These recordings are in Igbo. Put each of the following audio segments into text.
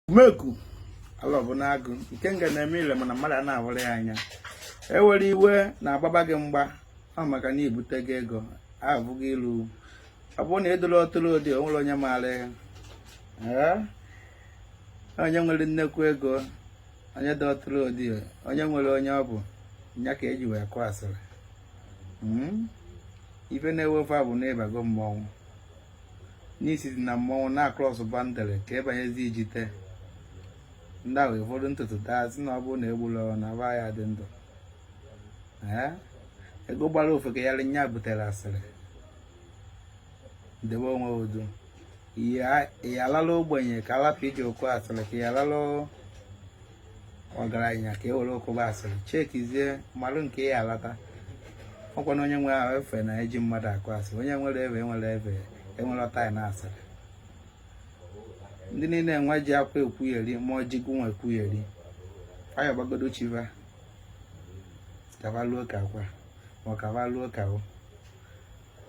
umeku ala bụ n'agụ nke nga na-eme ile mana mmadụ a na-ahụrụ ya anya ewere iwe na-agbaba gị mgba ọ maka na ibute gị ego abụghị ilu ọ bụrụ na ịdụrụ ọtụrụ ụdị onwere onye maara onye nwere nnekwu ego onye dị ọtụrụ ụdị onye nwere onye ọ bụ ya ka eji wee kụ asịrị hmm? ife na-ewe fa bụ na ịbago mmọnwụ n'isi dị na mmọnwụ na-akrọs boundary ka ịbanyezi ijite ndị ahụ ụfọdụ ntutu taa sị na ọ bụrụ na egbula ọrụ na aba ya dị ndụ ego gbara ofeke yarị nya butere asịrị debe onwe udo ya alala ogbenye ka alapụ iji akụ asịrị ka ya alala ọgaranya ka e were kụba asịrị chekizie mmadụ nke ya alata ọkwa na onye nwe ahụ efe na eji mmadụ akụ asịrị onye nwere ebe enwere ọta na asịrị ndị niile enwe ji akwa ekwugheri ma ọji gụnwa ekwugheri faya gbagodo chiva kavaluo ka akwa ma kavaluo ka o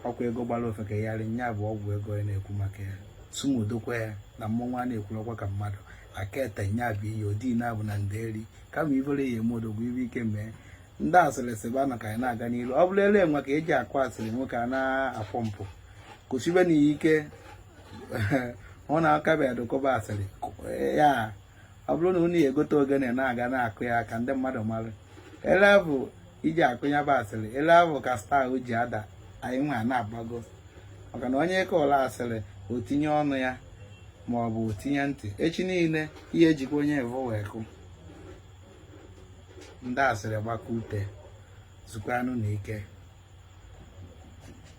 ọkwa ego gbara ofeke yarị nya bụ ọgwụ ego ya na-ekwu maka ya sumudokwa ya na mmọnwụ a na-ekwulọkwa ka mmadụ aka ete nya bụ ihe odi na-abụ na nderi kama ibere ya eme odogwu ibe ike mee ndị asịrị sịba na ka anyị na-aga n'iru ọ bụrụ ele enwe ka eji akụ asịrị nwoke a na-apụ mpụ kwụsịbe na ike ọ na-akabeghị adụkọba asịrị ya ọ bụrụ na unu ya egote ogene na-aga na-akụ ya ka ndị mmadụ mara ele avụ iji akụ ya bụ asịrị ele avụ ka star ji ada anyị nwa na-agbago maka na onye ị kọọrọ asịrị o tinye ọnụ ya ma ọ bụ o tinye ntị echi niile a ya-ejikwa onye avụ wee kụ ndị asịrị gbakọ ute zukwanụ na ike